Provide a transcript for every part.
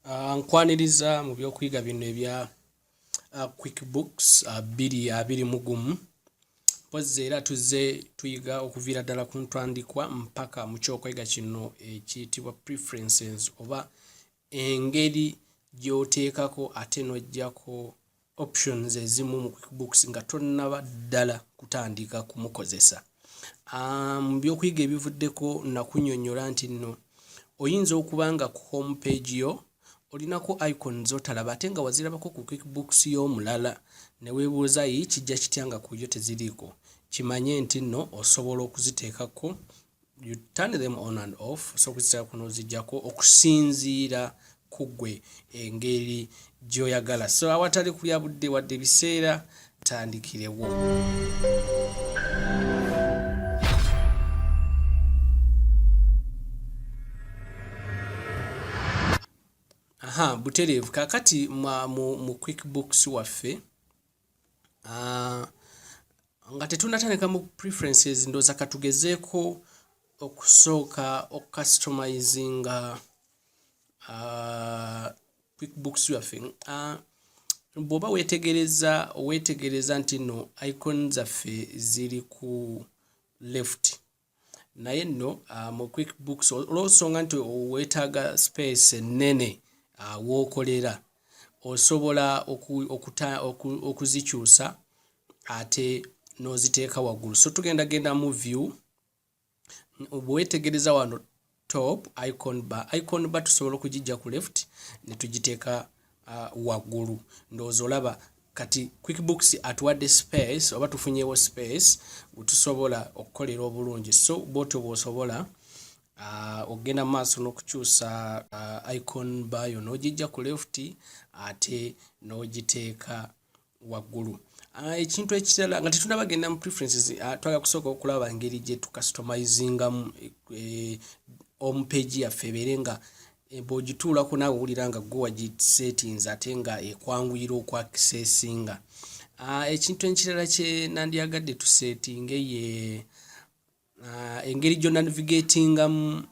Ah, nkwaniriza mu byokuyiga bino ebya ah, quick books ah, biri abiri mu gumu mpozzi era tuzze tuyiga okuviira ddala ku ntandikwa mpaka mu kyokwega kino ekiyitibwa preferences oba engeri gyoteekako ate nojjako options ezimu mu quickbooks nga tonnaba ddala kutandika kumukozesa ah, mu um, byokuyiga ebivuddeko nakunyonyola nti nno oyinza okuba nga ku home page yo olinako icon zotalaba ate nga wazirabako ku quickbooks y'omulala newebuuza yi kijja kitya nga kuyo teziriiko kimanye nti nno osobola okuziteekako you turn them on and off so kuzitera kuno zijjako okusinziira ku gwe engeri gy'oyagala so awatali kulya budde wadde ebiseera tandikirewo aha butereevu kakati mu quick books waffe Ah, nga tetunatandika mu preferences ndooza katugezeeko okusooka okucustomizinga ah, quickbooks yaffe ah, bw'oba weetegereza weetegereza nti no icon zaffe ziri ku left naye nno uh, mu quick books olwosonga nti weetaaga space ennene uh, wookolera osobola okuzikyusa oku, oku ate n'oziteeka waggulu so tugenda genda mu view bwewetegereza wano top icon bar icon bar tusobola okugijja ku left ne tugiteeka uh, waggulu ndowooza olaba kati quickbooks atuwadde space oba tufunyewo space wetusobola okukolera obulungi so bwotyo bwosobola uh, okugenda mu maaso n'okukyusa uh, icon bayo n'ogijja ku left ate n'ogiteeka waggulu ah, ekintu ekirala nga tetunaba genda mu preferences ah, twala kusooka okulaba ngeri gye tukastomizingamu eh, omupeegi yaffe ebeere nga eh, bwogituulako naawe owulira nga gwe wagisettings ate nga ekwanguyira okwakisesinga ah, ekintu ekirala kye nandyagadde tusetinge ye engeri gyonavigatingamu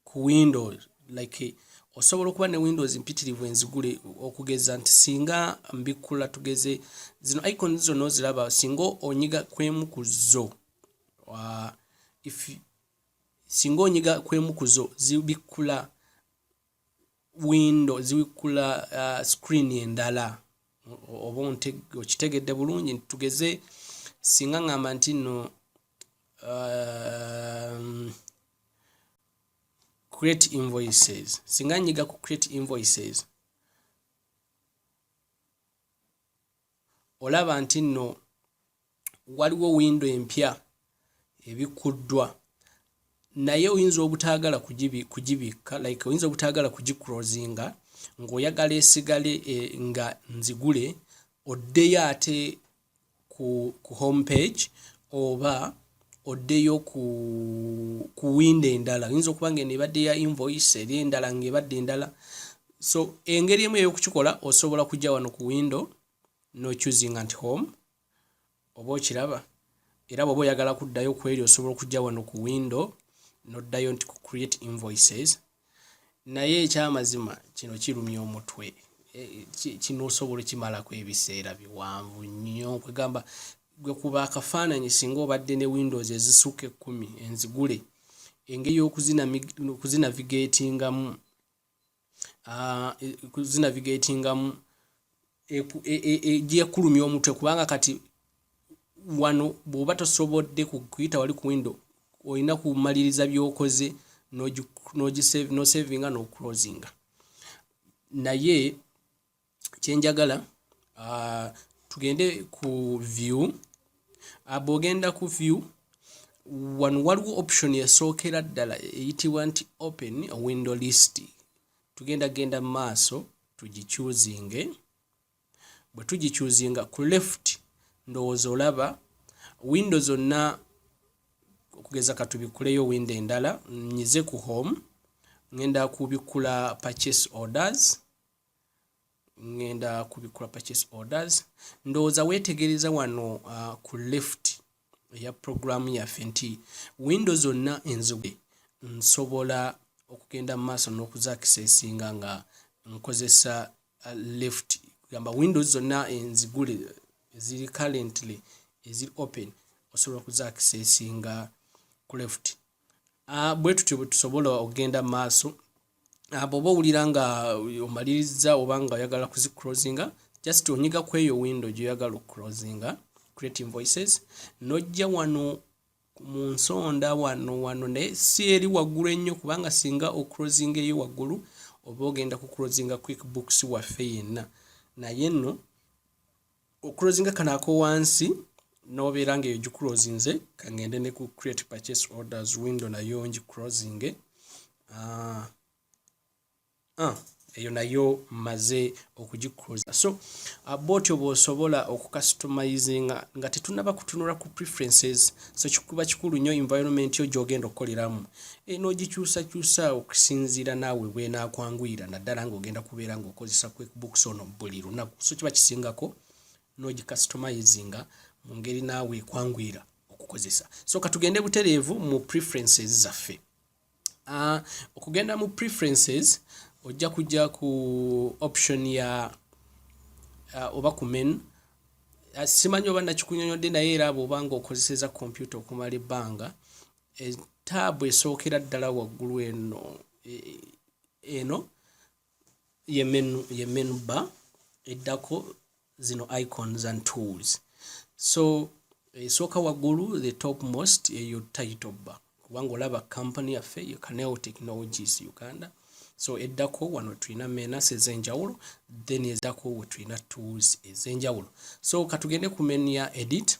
ku window like osobola okuba ne windows mpitirivu enzigule okugeza nti singa mbikkula tugeze zino icon zonna oziraba singa onyiga kwemu ku zo uh, singa onyiga kwemu ku zo zibikkula window ziwikula uh, screen endala oba okitegedde bulungi tugeze singa ngamba nti no um, create invoices singa nyiga ku create invoices olaba nti no waliwo windo empya ebikkuddwa naye oyinza obutaagala kugibikka like oyinza obutaagala kugikrozinga ng'oyagala esigale eh, nga nzigule oddeyo ate ku, ku home page oba oddeyo ku, ku windo endala oyinza okuba nga eno ebadde ya invoice eri endala ng'ebadde endala so engeri emu ey'okukikola osobola kujja wano ku windo no choosing at home oba okiraba era bwoba oyagala kuddayo ku eri osobola okujja wano ku window noddayo nti ku create invoices naye ekyamazima kino kirumya omutwe e, kino osobola okimalako ebiseera biwanvu nnyo kwegamba gwe kuba akafaananyi singa obadde ne windows ezisuka ekkumi enzigule engeri yokuzinavigatingamu ah, zinavigatingamu gyekulumya e, e, e, omutwe kubanga kati wano bwoba tosobodde kuyita wali ku window olina kumaliriza byokoze nosavinga noclosinga naye kyenjagala uh, tugende ku view ah, bwogenda ku view wano waliwo option yasookera ddala eyitibwa nti open window list tugenda genda mu maaso tugicuzinge bwe tugicuzinga ku left ndowooza olaba windo zonna okugeza katubikuleyo windo endala nyize ku home ngenda kubikkula purchase orders ngenda kubikula purchase orders ndowooza weetegereza wano uh, ku left eya program yaffe nti windo zonna enzige nsobola okugenda mu maaso n'okuzakisesinga nga nkozesa uh, left gamba windows zonna enzigule eziri currently eziri open osobola okuzakisesinga ku left Ah, bwe tutyo bwe tusobola okugenda mu maaso ah, bw'oba owulira nga omalirizza oba nga oyagala kuzicrosinga just onyiga ku eyo windo gy'oyagala okucrosinga creating voices n'ojja wano mu nsonda wano wano naye si eri waggulu ennyo kubanga singa ocrosinga eyo waggulu oba ogenda kucrosinga quick books waffe yenna naye nno okulozinga kano akowansi nobeera nga eyo gikulozinze kangende ne ku create purchase orders window nayo ngi closinge ah, ah, eyo nayo maze okugikuloza so ah, botyo bwosobola okukastomizinga nga tetunaba kutunula ku preferences so kikuba kikulu nnyo environment yo gyogenda okukoleramu Eno ogikyusakyusa okusinziira naawe bw'enaakwanguyira naddala ng'ogenda kubeera ng'okozesa QuickBooks ono buli lunaku. So kiba kisingako n'ogikasitomayizinga mu ngeri naawe ekwanguyira okukozesa. So ka tugende butereevu mu preferences zaffe. Uh, okugenda mu preferences ojja kujja ku option ya uh, oba ku menu Ah, simanyi oba nakikunyonyodde naye era bwobanga okozeseza kompyuta okumala ebbanga etaabu esookera ddala waggulu eno e, e, eno ye menu ba eddako zino icons and tools so esooka waggulu the top most eyo title ba kubanga olaba kampani yaffe ye canal technologies uganda so eddako wano tulina menas ez'enjawulo then eddako we tulina tools ez'enjawulo so katugende ku menu ya edit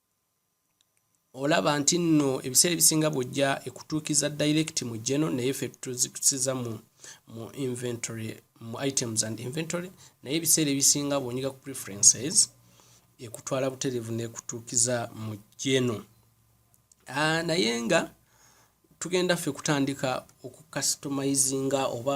olaba nti nno ebiseera ebisinga bwojja ekutuukiza direct mu geno naye fe tuzikusiza mu mu inventory mu items and inventory naye ebiseera ebisinga bwonyiga ku preferences ekutwala buterevu nekutuukiza mu geno ah, naye nga tugenda ffe kutandika okukastomizinga oba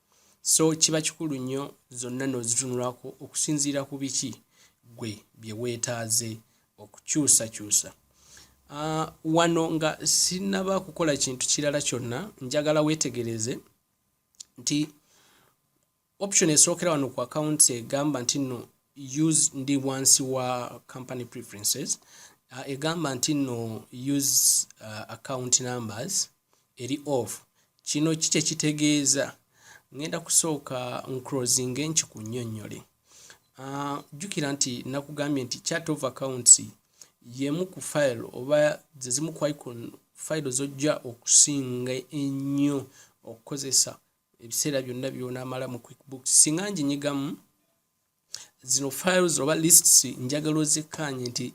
so kiba kikulu nnyo zonna n'ozitunulako okusinziira ku biki gwe bye weetaaze okukyusakyusa uh, wano nga sinaba kukola kintu kirala kyonna njagala weetegereze nti option esookera wano ku akawunti egamba nti nno use ndi wansi wa company preferences uh, egamba nti no use uh, account numbers eri off kino kikye kitegeeza ngenda kusooka ncrosing enki ku nnyonnyole uh, jjukira nti nakugambye nti chat of accounts yemu ku file oba zezimu ku icon file zojja okusinga ennyo okukozesa ebiseera byonna byonamala mu quickbooks singa nginyigamu zino files oba lists njagala ozikkaanye nti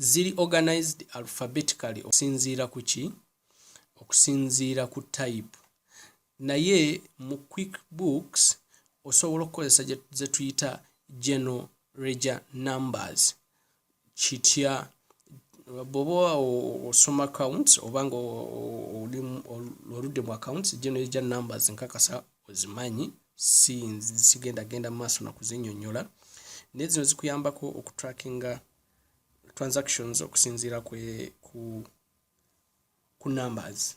ziri organized alphabetically okusinziira ku ki okusinziira ku type naye mu quick books osobola okukozesa zetuyita general reger numbers kitya bwoba osoma accounts oba nga oli oludde mu accounts gino egya numbers nkakasa ozimanyi si sigenda genda mu maaso nakuzinyonyola naye zino zikuyambako okutrackinga transactions okusinziira ku ku numbers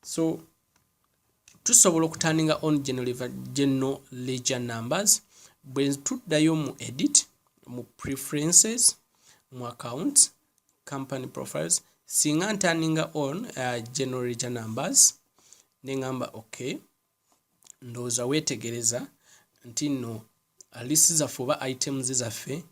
so tusobola okutandinga on general ledger numbers bwe tuddayo mu edit mu preferences mu accounts company profiles singa ntandinga on uh, general ledger numbers nengamba okay ndowooza weetegereza nti nno uh, list zaffe oba items zaffe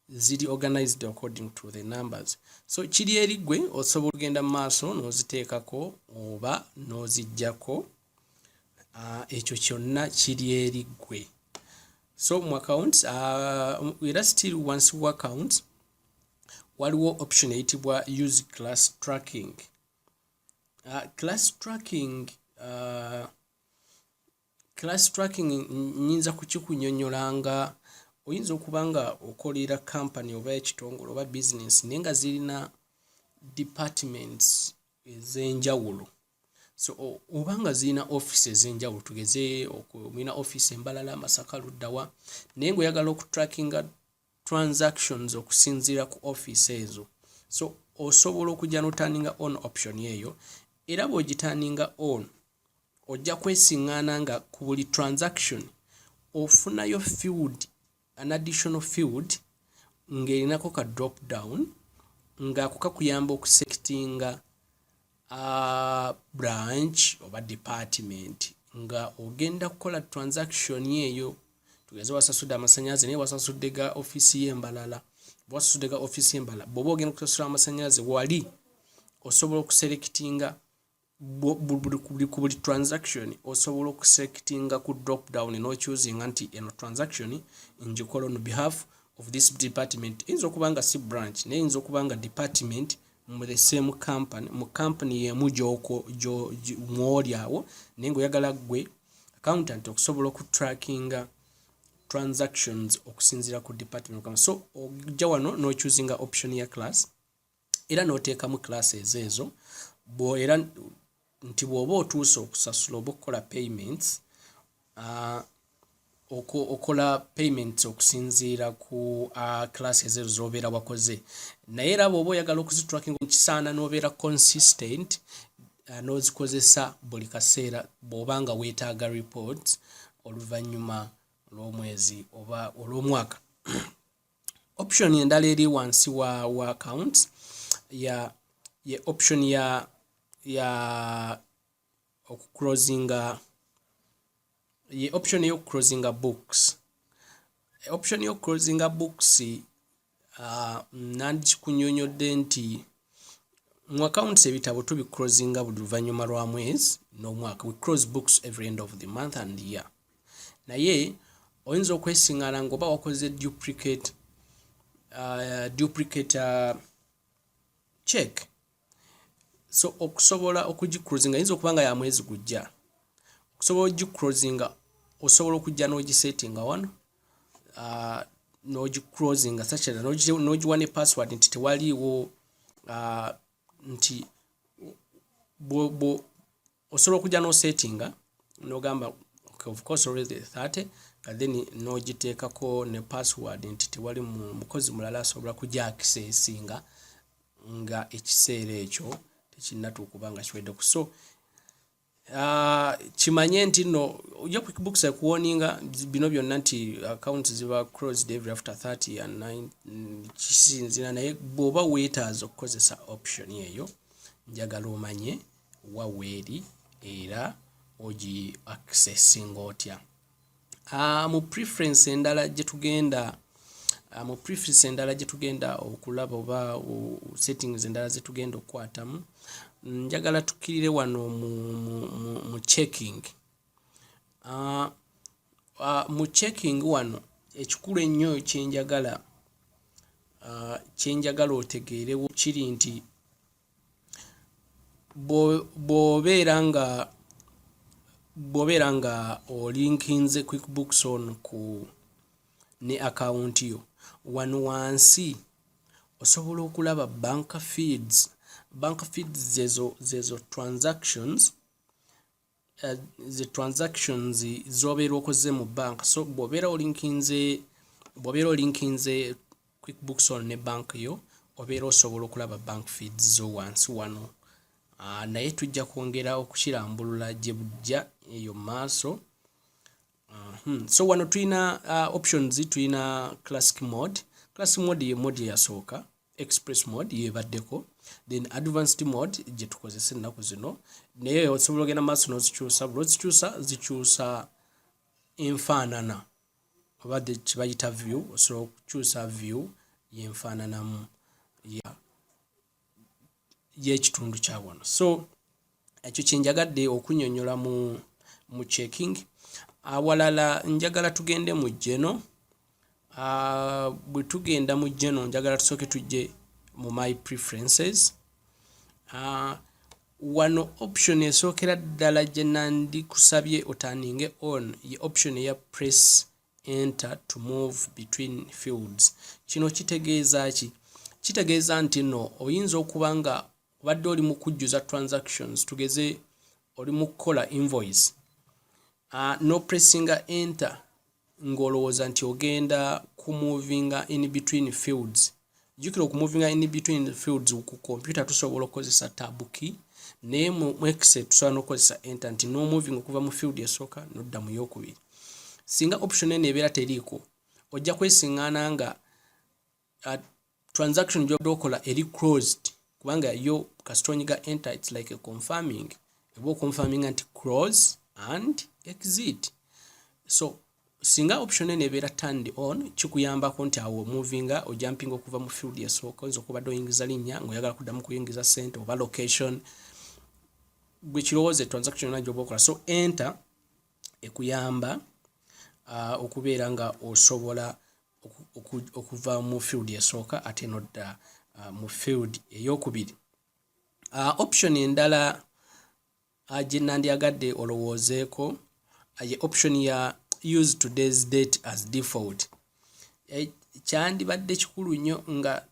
ziri organized according to the numbers so kiri eri gwe osobola ogenda mu maaso n'oziteekako oba n'oziggyako uh, ekyo kyonna kiri eri gwe so mu account uh, era still once u account waliwo option eyitibwa use class tracking uh, class tracking uh, class tracking nyinza kukikunyonyola nga oyinza okuba nga okolera company oba ekitongole oba business naye nga zirina departments ezenjawulo so oba nga zirina office ezenjawulo tugeze mulina office embalala masaka luddawa naye ngaoyagala okutrackinga transactions okusinziira ku office ezo so osobola okujja notaninga on option eyo era bwogitaninga on ojja kwesiŋŋaana nga ku buli transaction ofunayo field an additional field ng'erinako ka drop down ng'ako kakuyamba okusekitinga uh, branch oba department nga ogenda kukola transaction eyo tugeze wasasudde amasanyalaze naye wasasudde ga offiisi y'embalala wasasudde ga offiisi y'embalala bwoba ogenda kusasula amasanyalaze wali osobola okuselectinga ku buli transaction osobola okuselectinga ku drop down nochusinga nti eno transaction ngikola on behalf of this department eyinza okuba nga si branch naye eyinza okuba nga department mu the same company mu company yemu gyoko mwoli awo naye nga oyagala gwe accountant okusobola oku trackinga transactions okusinzira ku department kama so ojja wano no choosing option ya class era no tekamu classes ezo bo era nti bwoba otuuse okusasula oba okukola payments uh, okola payments okusinziira ku uh, class ezezo zobeera wakoze naye era bwoba oyagala okuzitracking kisaana nobeera consistent uh, nozikozesa buli kaseera bwoba nga wetaaga reports oluvannyuma olw'omwezi oba olw'omwaka option endala eri wansi wa, wa account ya ye option ya ya okuclosinga ye option eyokuclosinga books option yokuclosinga books uh, nandikikunyonyodde nti mu accounts ebitabo tubicrosinga buli luvannyuma lwa mwezi n'omwaka we close books every end of the month and year naye oyinza okwesingana ngaoba wakoze duplicate uh, duplicate uh, check so okusobola okugicrosinga yinza okuba nga ya mwezi gujja okusobola ogicrosinga osobola okujja n'ogisettinga wano uh, nogicrosinga sachera nogiwa ne password nti tewaliiwo uh, nti osobola okujja nosettinga nogamba okay, of course always the 30 nga then nogiteekako ne password nti tewali mukozi mulala asobola kujja akisesinga nga ekiseera ekyo tekinnatuukuba nga kiweddeku so Uh, kimanye nti no ojja quickbooks ekuwoninga bino byonna nti accounts ziba crossed every after 30 and 9 mm, kisinzira naye bwoba weetaaza okukozesa option eyo njagala omanye waweeri era ogi accessinga otya Ah, mu preference endala gye tugenda ah, mu preference endala gye tugenda okulaba oba settings endala ze tugenda okukwatamu njagala tukirire wano mu, mu, mu, mu checking uh, uh, mu checking wano ekikulu ennyo kyenjagala uh, kyenjagala otegeerewo kiri nti bwobeera nga bwobeera nga olinkinze quickbooks on ku ne akawunti yo wano wansi osobola okulaba bank feeds bank feeds zezo zezo transactions uh, the transactions zobeera okoze mu bank so bwobeera olinkinze bwobeera olinkinze quickbooks on ne bank yo obeera osobola okulaba bank feeds zo wansi wano uh, naye tujja kwongera okukirambulula gye bujja eyo maaso uh ah, -huh. Hmm. so wano tulina uh, options tulina classic mode classic mode ye mode yasooka express mode yebaddeko then advanced mode gye tukozesa ennaku zino naye osobola ogenda maaso n'ozikyusa buli ozikyusa zikyusa enfaanana oba kibayita view osobola okukyusa view yenfaananamu ya y'ekitundu kya wano so ekyo kyenjagadde okunyonyola mu mu checking awalala njagala tugende mu jeno ah, bwe tugenda mu jeno njagala tusooke tujje mu my preferences ah, wano option esookera ddala gye nandikusabye otaninge on ye option eya press enter to move between fields kino kitegeeza ki kitegeeza nti no oyinza okuba nga obadde oli mu kujjuza transactions tugeze oli mu kukola invoice uh, no pressinga enter ng'olowooza nti ogenda ku movinga in between fields jjukira okumuvinga in between the fields ku kompyuta tusobola okukozesa tab key naye mu excel tusobola n'okukozesa enter nti n'omoving okuva mu field esooka nodda mu yokubiri singa option eno ebeera teriiko ojja kwesiŋŋaana nga uh, transaction gyobadde okola eri closed kubanga yo kasita onyiga enter its like a confirming eba oconfirminga nti close and exit so singa option eno ebeera turned on kikuyambako nti awo omovinga ojampinga okuva mu field esooka oyinza okubadde oyingiza linnya ngaoyagala kuddamu kuyingiza sente oba location gwe kirowooza etransaction yona gyoba okola so enter ekuyamba uh, okubeera nga osobola okuva mu field esooka ate nodda uh, mu field eyokubiri uh, option endala Gyenandyagadde olowoozeeko ye option ya use today's date as default. Eh, kyandibadde kikulu nnyo nga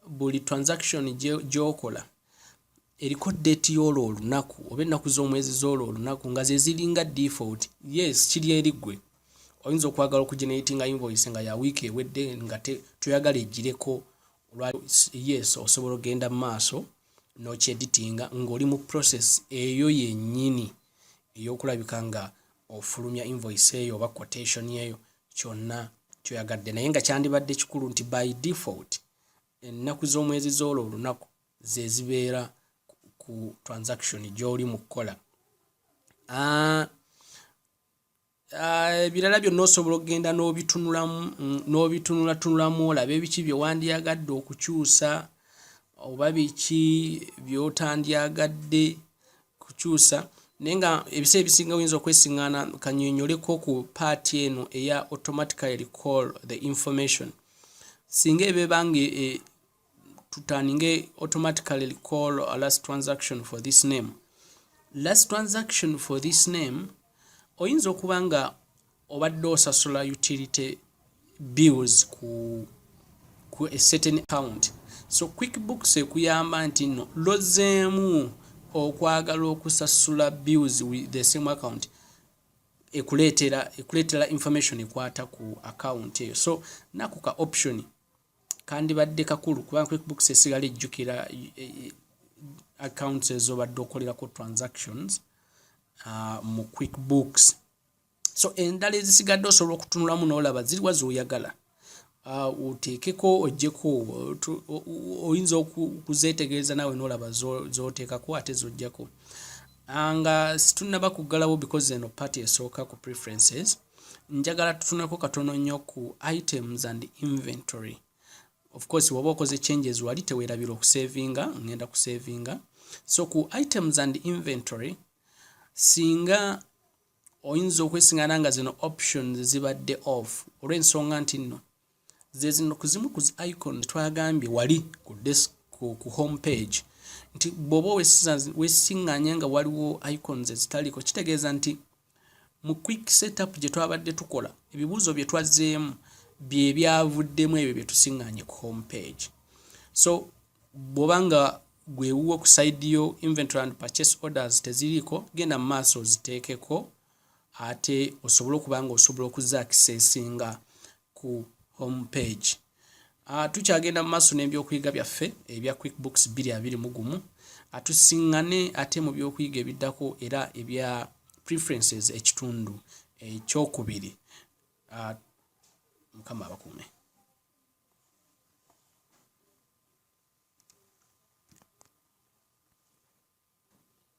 buli transaction gyokola eriko date y'olwo olunaku oba ennaku z'omwezi z'olwo olunaku nga ze ziringa default yes kiri eri ggwe oyinza okwagala okugeneratinga invoice nga ya wiiki ewedde nga toyagala egireko yes osobola ogenda mu maaso nokyeditinga ng'oli mu process eyo yennyini ey'okulabika nga ofulumya invoice eyo oba quotation eyo kyonna kyoyagadde naye nga kyandibadde kikulu nti by default ennaku z'omwezi z'olwo olunaku zezibeera ku transaction gy'oli mu kukola ah, Ah, ebirala byonna osobola okugenda n'obitunulamu mm, n'obitunulatunulamu olabe biki bye wandyagadde okukyusa oba biki by'otandyagadde kukyusa naye nga ebiseera ebisinga oyinza okwesiŋŋaana kanyonyoleko ku paati eno eya automatically recall the information singa ebeba nga e, tutaninge automatically call a last transaction for this name last transaction for this name oyinza okuba nga obadde osasula utility bills ku ku a certain account so quick books ekuyamba nti no lozeemu okwagala okusasula bills with the same account ekuleetera ekuleetera information ekwata ku account eyo so nakuka option kandibadde kakulu kubanga quickbooks esigala ejjukira e, e, accounts ezobadde okolerako transactions uh, mu quickbooks so endala ezisigadde osobola okutunulamu nolaba ziriwa zoyagala uh, oteekeko ojjeko oyinza okuzetegereza nawe nolaba zoteekako ate zojjako uh, nga situnaba kuggalawo because eno party esooka ku preferences njagala tutuneko katono nnyo ku items and inventory of course woba okoze changes wali tewerabira okusavinga ngenda kusavinga so ku items and inventory singa oyinza okwesingana nga zino options zibadde off olw'ensonga nti nno ze zino ku zimu ku zi icon twagambye wali ku desk ku, ku home page nti bwoba wesinganya nga waliwo icons ezitaliko kitegeeza nti mu quick setup gye twabadde tukola ebibuuzo bye twazzeemu bye byavuddemu ebyo bye tusinganye ku home page so bwoba nga gwewuwo ku side yo inventory and purchase orders teziriiko genda mu maaso oziteekeko ate osobole okuba nga osobola okuza akisesinga ku home page uh, tukyagenda mu maaso n'ebyokuyiga byaffe ebya quick books 22 gumu atusiŋŋane ate mu byokuyiga ebiddako era ebya preferences ekitundu ekyokubiri uh, mukama abakuume